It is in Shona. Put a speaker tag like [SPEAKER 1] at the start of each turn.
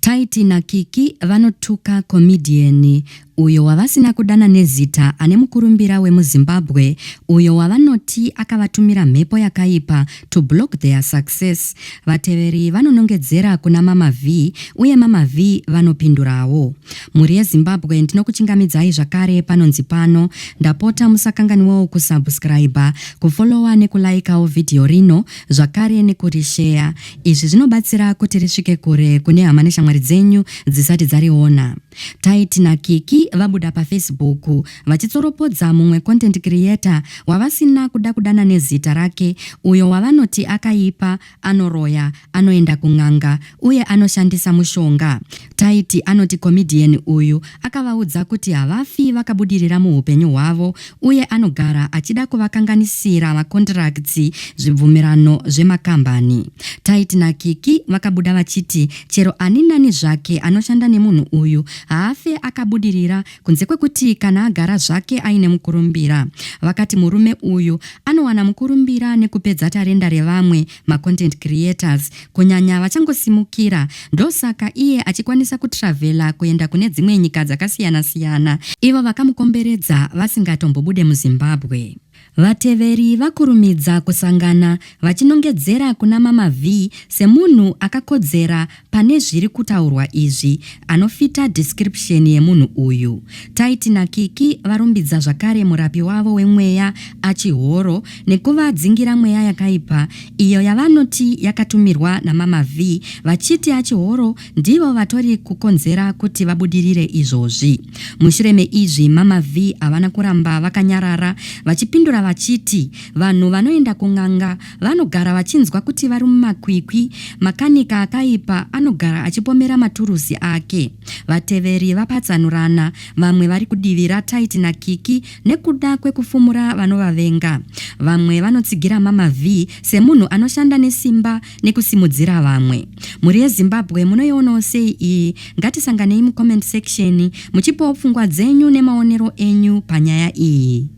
[SPEAKER 1] Tytie na Kiki vanotuka comedian uyo wavasina kudana nezita ane mukurumbira wemuZimbabwe uyo wavanoti akavatumira mhepo yakaipa to block their success. Vateveri vanonongedzera kuna Mama Vee uye Mama Vee vanopindurawo. Mhuri yeZimbabwe ndinokuchingamidzai zvakare panonzi pano. Ndapota musakanganwewo kusubscriber, kufollower nekulaikawo video rino zvakare nekurisheya. Izvi zvinobatsira kuti risvike kure kune hama neshamwari dzenyu dzisati dzariona. Tight naKiki vabuda paFacebook vachitsoropodza mumwe content creator wavasina kuda kudana nezita rake uyo wavanoti akaipa, anoroya, anoenda kun'anga uye anoshandisa mushonga. Taiti anoti comedian uyu akavaudza kuti havafi vakabudirira muhupenyu hwavo uye anogara achida kuvakanganisira macontracts zvibvumirano zvemakambani. Taiti naKiki vakabuda vachiti chero ani nani zvake anoshanda nemunhu uyu haafe akabudirira kunze kwekuti kana agara zvake aine mukurumbira. Vakati murume uyu anowana mukurumbira nekupedza tarenda revamwe macontent creators kunyanya vachangosimukira ndosaka iye achikwanisa kutravela kuenda kune dzimwe nyika dzakasiyana siyana ivo vakamukomberedza vasingatombobude muzimbabwe Vateveri vakurumidza kusangana vachinongedzera kuna Mama Vee semunhu akakodzera Pane zviri kutaurwa izvi anofita description yemunhu uyu. Taiti naKiki varumbidza zvakare murapi wavo wemweya achihoro nekuvadzingira mweya yakaipa iyo yavanoti yakatumirwa naMama Vee vachiti achihoro ndivo vatori kukonzera kuti vabudirire izvozvi. Mushure meizvi Mama Vee havana kuramba vakanyarara vachipindura vachiti vanhu vanoenda kun'anga Vanogara vachinzwa kuti vari mumakwikwi, makanika akaipa anogara achipomera maturuzi ake. Vateveri vapatsanurana, vamwe vari kudivira Tight naKiki nekuda kwekufumura vanovavenga. Vamwe vanotsigira Mama Vee semunhu anoshanda nesimba nekusimudzira vamwe. Mhuri yeZimbabwe munoionawo sei iyi? Ngatisanganei mucomment section muchipawo pfungwa dzenyu nemaonero enyu panyaya iyi.